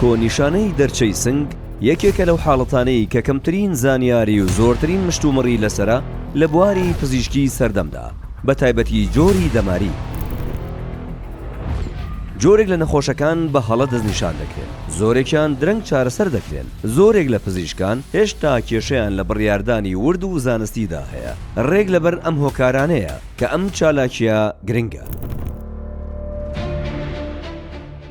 کۆ نیشانەی دەرچەی سنگ یەکێکە لەو حاڵەتانەی کە کەمترین زانیاری و زۆرترین مشتومڕی لەسەرە لە بواری پزیشکی سەردەمدا بە تایبەتی جۆری دەماری. جۆرێک لە نەخۆشەکان بە هەڵە دەستنیشان دەکرێن، زۆرێکیان درەنگ چارەسەر دەکرێن، زۆرێک لە پزیشکان هێشتا کێشەیان لە بڕیاردانی ورد و زانستیدا هەیە، ڕێک لەبەر ئەم هۆکارانەیە کە ئەم چالاکییە گرنگە.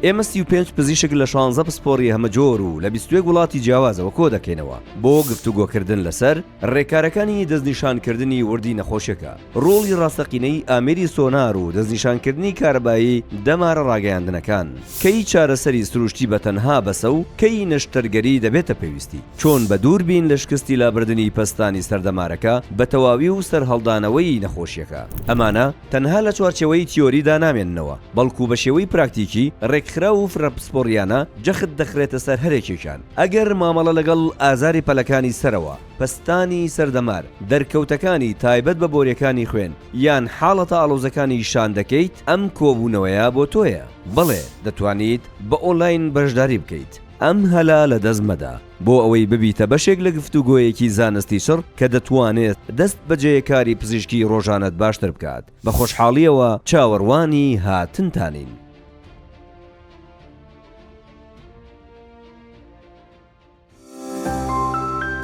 ئێمە سی و پێنج پزیشک لە شانزە پسپۆڕی هەمەجۆر و لە بیست و یەک وڵاتی جیاوازەوە کۆدەکەینەوە بۆ گفتوگۆکردن لەسەر رێکارەکانی دەستنیشانکردنی وردی نەخۆشیەکە، رۆڵی راستەقینەی ئامێری سۆنار و دەستنیشانکردنی کارەبایی دەمارە راگەیاندنەکان، کەی چارەسەری سروشتی بەتەنها بەسە و کەی نەشتەرگەری دەبێتە پێویستی، چۆن بە دووربین لە شکستی لابردنی پەستانی سەر دەمارەکە بەتەواوی و سەرهەڵدانەوەی نەخۆشیەکە. ئەمانە. تەنها لە چوارچێوەی تیۆریدا نامێننەوە، بەڵکو بە شێوەی پراکتیکی، ڕێکخراو و فرە پسپۆڕییانە جەخت دەخرێتە سەر هەرێکێکیان. ئەگەر مامەڵە لەگەڵ ئازاری پەلەکانی سەرەوە، پەستانی سەردەمار، دەرکەوتەکانی تایبەت بە بۆریەکانی خوێن، یان حاڵەتە ئاڵۆزەکانی شان دەکەیت، ئەم کۆبوونەوەیە بۆ تۆیە. بەڵێ، دەتوانیت بە ئۆنلاین بەشداری بکەیت. ئەم هەلە لەدەست مەدە. بۆ ئەوەی ببیتە بەشێک لە گفتوگۆیەکی زانستی چڕ کە دەتوانێت دەست بە جێیەکاری پزیشکی ڕۆژانەت باشتر بکات، بە خۆشحاڵییەوە چاوەڕوانی هاتنتانین.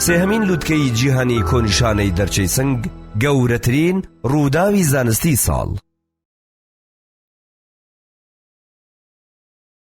سێهەمین لووتکەی جیهانی کۆنیشانەی دەرچەی سنگ، گەورەترین ڕووداوی زانستیی ساڵ.